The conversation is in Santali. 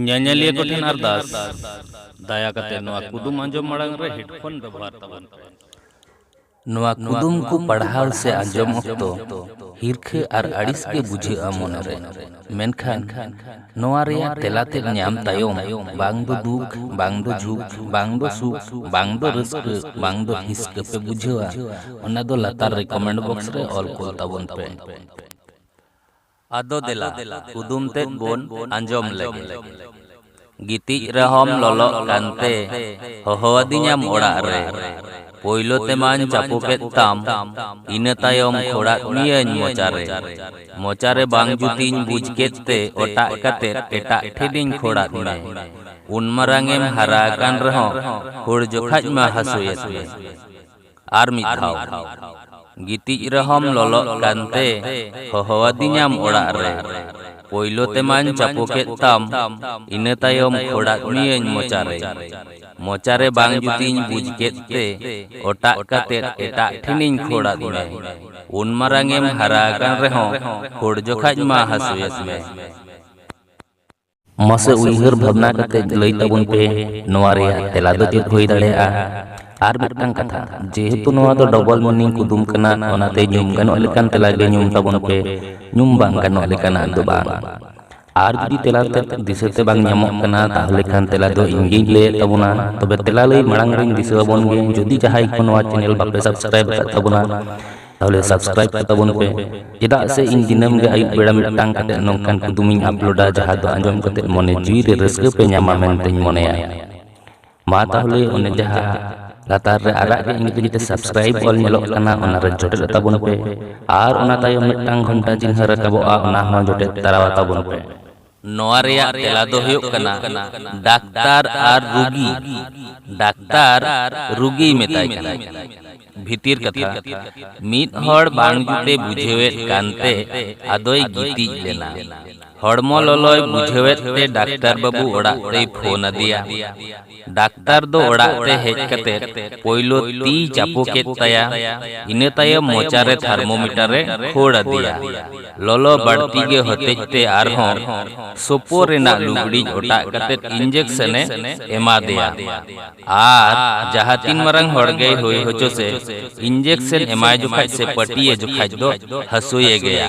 ᱧᱮᱧᱮᱞᱤᱭᱟᱹ ᱠᱚ ᱴᱷᱮᱱ ᱟᱨᱫᱟᱥ ᱫᱟᱭᱟ ᱠᱟᱛᱮ ᱱᱚᱣᱟ ᱠᱩᱫᱩᱢ ᱟᱸᱡᱚᱢ ᱢᱟᱲᱟᱝ ᱨᱮ ᱦᱮᱰᱯᱷᱳᱱ ᱵᱮᱵᱚᱦᱟᱨ ᱛᱟᱵᱚᱱ ᱯᱮ ᱱᱚᱣᱟ ᱠᱩᱫᱩᱢ ᱠᱚ ᱯᱟᱲᱦᱟᱣ ᱥᱮ ᱟᱸᱡᱚᱢ ᱚᱠᱛᱚ ᱦᱤᱨᱠᱷᱟᱹ ᱟᱨ ᱟᱹᱲᱤᱥ ᱜᱮ ᱵᱩᱡᱷᱟᱹᱜᱼᱟ ᱢᱚᱱᱮᱨᱮ ᱢᱮᱱᱠᱷᱟᱱ ᱱᱚᱣᱟ ᱨᱮᱭᱟᱜ ᱛᱮᱞᱟ ᱛᱮᱫ ᱧᱟᱢ ᱛᱟᱭᱚᱢ ᱵᱟᱝ ᱫᱚ ᱫᱩᱠ ᱵᱟᱝ ᱫᱚ ᱡᱷᱩᱠ ᱵᱟᱝ ᱫᱚ ᱥᱩᱠ ᱵᱟᱝ ᱫᱚ ᱨᱟᱹᱥᱠᱟᱹ ᱵᱟᱝ ᱫᱚ ᱦᱤᱥᱠᱟᱹ ᱯᱮ ᱵᱩᱡᱷᱟᱹᱣᱟ ᱚᱱᱟ ᱫᱚ ᱞᱟᱛᱟᱨ ᱨᱮ ᱠᱚᱢᱮᱱᱴ ᱵᱚᱠᱥ ᱨᱮ ᱚᱞ ᱠᱚᱞ ᱛᱟᱵᱚᱱ ᱯᱮ ᱟᱫᱚ ᱫᱮᱞᱟ ᱠᱩᱫᱩᱢ ᱛᱮᱫ ᱵᱚᱱ ᱟᱸᱡᱚᱢ ᱞᱮᱜᱮ᱾ ᱜᱤᱛᱤᱡ ᱨᱮᱦᱚᱸᱢ ᱞᱚᱞᱚᱜ ᱠᱟᱱᱛᱮ ᱦᱚᱦᱚ ᱟᱹᱫᱤᱧᱟᱢ ᱚᱲᱟᱜ ᱨᱮ᱾ ᱯᱳᱭᱞᱳ ᱛᱮᱢᱟᱧ ᱪᱟᱯᱳ ᱠᱮᱫ ᱛᱟᱢ, ᱤᱱᱟᱹ ᱛᱟᱭᱚᱢ ᱠᱷᱳᱲᱟᱫ ᱢᱤᱭᱟᱹᱧ ᱢᱚᱪᱟ ᱨᱮ᱾ ᱢᱚᱪᱟ ᱨᱮ ᱵᱟᱝ ᱡᱩᱛᱤᱧ ᱵᱩᱡᱽ ᱠᱮᱫ ᱛᱮ ᱚᱴᱟᱜ ᱠᱟᱛᱮ ᱮᱴᱟᱜ ᱴᱷᱮᱱᱤᱧ ᱠᱷᱳᱲᱟᱫ ᱢᱮ᱾ ᱩᱱ ᱢᱟᱨᱟᱝ ᱮᱢ ᱦᱟᱨᱟ ᱟᱠᱟᱱ ᱨᱮᱦᱚᱸ ᱠᱷᱳᱲ ᱡᱚᱠᱷᱟᱡ ᱢᱟ ᱦᱟᱹᱥᱩᱭᱮᱫ ᱢᱮ᱾ ᱟᱨ ᱢᱤᱫ ᱫᱷᱟᱣ ᱜᱤᱛᱤᱡ ᱨᱮᱦᱚᱢ ᱞᱚᱞᱚᱜ ᱠᱟᱱᱛᱮ ᱦᱚᱦᱚᱣᱟᱫᱤᱧᱟᱢ ᱚᱲᱟᱜ ᱨᱮ ᱯᱳᱭᱞᱳ ᱛᱮᱢᱟᱧ ᱪᱟᱯᱚ ᱠᱮᱫ ᱛᱟᱢ ᱤᱱᱟᱹ ᱛᱟᱭᱚᱢ ᱠᱷᱚᱲᱟᱫ ᱢᱤᱭᱟᱹᱧ ᱢᱚᱪᱟᱨᱮ ᱢᱚᱪᱟᱨᱮ ᱵᱟᱝ ᱡᱩᱛᱤᱧ ᱵᱩᱡᱽ ᱠᱮᱫ ᱛᱮ ᱚᱴᱟᱜ ᱠᱟᱛᱮ ᱮᱴᱟᱜ ᱴᱷᱮᱱᱤᱧ ᱠᱷᱚᱲᱟᱫ ᱢᱮ ᱩᱱ ᱢᱟᱨᱟᱝ ᱮᱢ ᱦᱟᱨᱟ ᱟᱠᱟᱱ ᱨᱮᱦᱚᱸ ᱠᱷᱚᱲ ᱡᱚᱠᱷᱟᱡ ᱢᱟ ᱦᱟᱹᱥᱩᱭᱮᱫ ᱢᱮ ᱢᱟᱥᱮ ᱩᱭᱦᱟᱹᱨ ᱵᱷᱟᱵᱽᱱᱟ ᱠᱟᱛᱮ ᱞᱟᱹᱭ ᱛᱟᱵᱚᱱ ᱯᱮ ᱱᱚᱣᱟ ᱨᱮᱭᱟᱜ ᱛᱮᱞᱟ ᱫᱚ ᱪᱮᱫ ᱦᱩᱭ ᱫᱟᱲᱮᱭᱟᱜᱼᱟ ᱟᱨ ᱢᱤᱫᱴᱟᱝ ᱠᱟᱛᱷᱟ ᱡᱮᱦᱮᱛᱩ ᱱᱚᱣᱟ ᱫᱚ ᱰᱚᱵᱚᱞ ᱢᱤᱱᱤᱝ ᱠᱩᱫᱩᱢ ᱠᱟᱱᱟ ᱚᱱᱟᱛᱮ ᱧᱩᱢ ᱜᱟᱱᱚᱜ ᱞᱮᱠᱟᱱ ᱛᱮᱞᱟ ᱜᱮ ᱧᱩᱢ ᱛᱟᱵᱚᱱ ᱯᱮ ᱧᱩᱢ ᱵᱟᱝ ᱜᱟᱱᱚᱜ ᱞᱮᱠᱟᱱᱟᱜ ᱫᱚ ᱵᱟᱝ ᱟᱨ ᱡᱩᱫᱤ ᱛᱮᱞᱟ ᱛᱮ ᱫᱤᱥᱟᱹ ᱛᱮ ᱵᱟᱝ ᱧᱟᱢᱚᱜ ᱠᱟᱱᱟ ᱛᱟᱦᱚᱞᱮ ᱠᱷᱟᱱ ᱛᱮᱞᱟ ᱫᱚ ᱤᱧ ᱜᱤᱧ ᱞᱟᱹᱭᱮᱫ ᱛᱟᱵᱚᱱᱟ ᱛᱚᱵᱮ ᱛᱮᱞᱟ ᱞᱟᱹᱭ ᱢᱟᱲᱟᱝ ᱨᱤᱧ ᱫᱤᱥᱟᱹ ᱟᱵᱚᱱ ᱜᱮ ᱡᱩᱫᱤ ᱡᱟᱦᱟᱸᱭ ᱠᱚ ᱱᱚᱣᱟ ᱪᱮᱱᱮᱞ ᱵᱟᱯᱮ ᱥᱟᱵᱥᱠᱨᱟᱭᱤᱵ ᱟᱠᱟᱫ ᱛᱟᱵᱚᱱᱟ ᱛᱟᱦᱚᱞᱮ ᱥᱟᱵᱥᱠᱨᱟᱭᱤᱵ ᱠᱟᱛᱟᱵᱚᱱ ᱯᱮ ᱪᱮᱫᱟᱜ ᱥᱮ ᱤᱧ ᱫᱤᱱᱟᱹᱢ ᱜᱮ ᱟᱹᱭᱩᱵ ᱵᱮᱲᱟ ᱢᱤᱫᱴᱟᱝ ᱠᱟᱛᱮ ᱱᱚᱝᱠᱟᱱ ᱠᱩᱫᱩᱢᱤᱧ ᱟᱯᱞᱳᱰᱟ ᱡᱟᱦᱟᱸ ᱫᱚ ᱟᱸᱡᱚᱢ ᱠᱟᱛᱮ ᱢᱚᱱᱮ ᱡᱤᱣᱤ ᱨᱮ ᱨᱟᱹᱥᱠᱟᱹ ᱯᱮ ᱧᱟᱢᱟ ᱢᱮᱱᱛᱮᱧ ᱢᱚᱱᱮᱭᱟ ᱢᱟ ᱛᱟᱦᱚᱞᱮ ᱚᱱᱮ ᱡᱟᱦᱟᱸ ᱞᱟᱛᱟᱨ ᱨᱮ ᱟᱨᱟᱜ ᱜᱮ ᱤᱝᱨᱮᱡᱤ ᱛᱮ ᱥᱟᱵᱥᱠᱨᱟᱭᱤᱵ ᱚᱞ ᱧᱮᱞᱚᱜ ᱠᱟᱱᱟ ᱚᱱᱟ ᱨᱮ ᱡᱚᱴᱮᱫ ᱛᱟᱵᱚᱱ ᱯᱮ ᱟᱨ ᱚᱱᱟ ᱛᱟᱭᱚᱢ ᱢᱤᱫᱴᱟᱝ ᱜᱷᱚᱱᱴᱟ ᱪᱤᱱᱦᱟᱹ ᱨᱟᱠᱟᱵᱚᱜᱼᱟ ᱚᱱᱟ ᱦᱚᱸ ᱡᱚᱴᱮᱫ ᱛᱟᱨᱟᱣ ᱛᱟᱵᱚᱱ ᱯᱮ ᱱᱚᱣᱟ ᱨᱮᱭᱟᱜ ᱛᱮᱞᱟ ᱫᱚ ᱦᱩᱭᱩᱜ ᱠᱟᱱᱟ ᱰᱟᱠᱛᱟᱨ ᱟᱨ ᱨᱩᱜᱤ᱾ ᱰᱟᱠᱛᱟᱨ ᱨᱩᱜᱤᱭ ᱢᱮᱛᱟᱭ ᱠᱟᱱᱟᱭ᱾ ᱵᱷᱤᱛᱤᱨ ᱠᱟᱛᱷᱟ, ᱢᱤᱫ ᱦᱚᱲ ᱵᱟᱝ ᱡᱩᱛᱮ ᱵᱩᱡᱷᱟᱹᱣᱮᱫ ᱠᱟᱱ ᱛᱮ ᱟᱫᱚᱭ ᱜᱤᱛᱤᱡ ᱞᱮᱱᱟ᱾ ᱦᱚᱲᱢᱚ ᱞᱚᱞᱚᱭ ᱵᱩᱡᱷᱟᱹᱣᱮᱫ ᱛᱮ ᱰᱟᱠᱛᱟᱨ ᱵᱟᱹᱵᱩ ᱚᱲᱟᱜ ᱛᱮᱭ ᱯᱷᱳᱱ ᱟᱫᱮᱭᱟ᱾ ᱰᱟᱠᱛᱟᱨ ᱫᱚ ᱚᱲᱟᱜ ᱛᱮ ᱦᱮᱡ ᱠᱟᱛᱮ ᱯᱳᱭᱞᱳ ᱛᱤᱭ ᱪᱟᱯᱳ ᱠᱮᱫ ᱛᱟᱭᱟ, ᱤᱱᱟᱹ ᱛᱟᱭᱚᱢ ᱢᱚᱪᱟ ᱨᱮ ᱛᱷᱟᱨᱢᱳᱢᱤᱴᱟᱨ ᱮ ᱠᱷᱳᱲ ᱟᱫᱮᱭᱟ᱾ ᱞᱚᱞᱚ ᱵᱟᱹᱲᱛᱤ ᱜᱮ ᱦᱚᱛᱮᱡ ᱛᱮ ᱟᱨᱦᱚᱸ ᱥᱳᱯᱳ ᱨᱮᱱᱟᱜ ᱞᱩᱜᱽᱲᱤᱡ ᱚᱴᱟᱜ ᱠᱟᱛᱮ ᱤᱱᱡᱮᱠᱥᱚᱱ ᱮ ᱮᱢᱟᱫᱮᱭᱟ᱾ ᱟᱨ ᱡᱟᱦᱟᱸ ᱛᱤᱱ ᱢᱟᱨᱟᱝ ᱦᱚᱲ ᱜᱮᱭ ᱦᱳᱭ ᱦᱚᱪᱚ ᱥᱮ, ᱤᱱᱡᱮᱠᱥᱚᱱ ᱮᱢᱟᱭ ᱡᱚᱠᱷᱟᱡ ᱥᱮ ᱯᱟᱹᱴᱤ ᱮ ᱡᱚᱠᱷᱟᱡ ᱫᱚ ᱦᱟᱹᱥᱳᱭᱮ ᱜᱮᱭᱟ᱾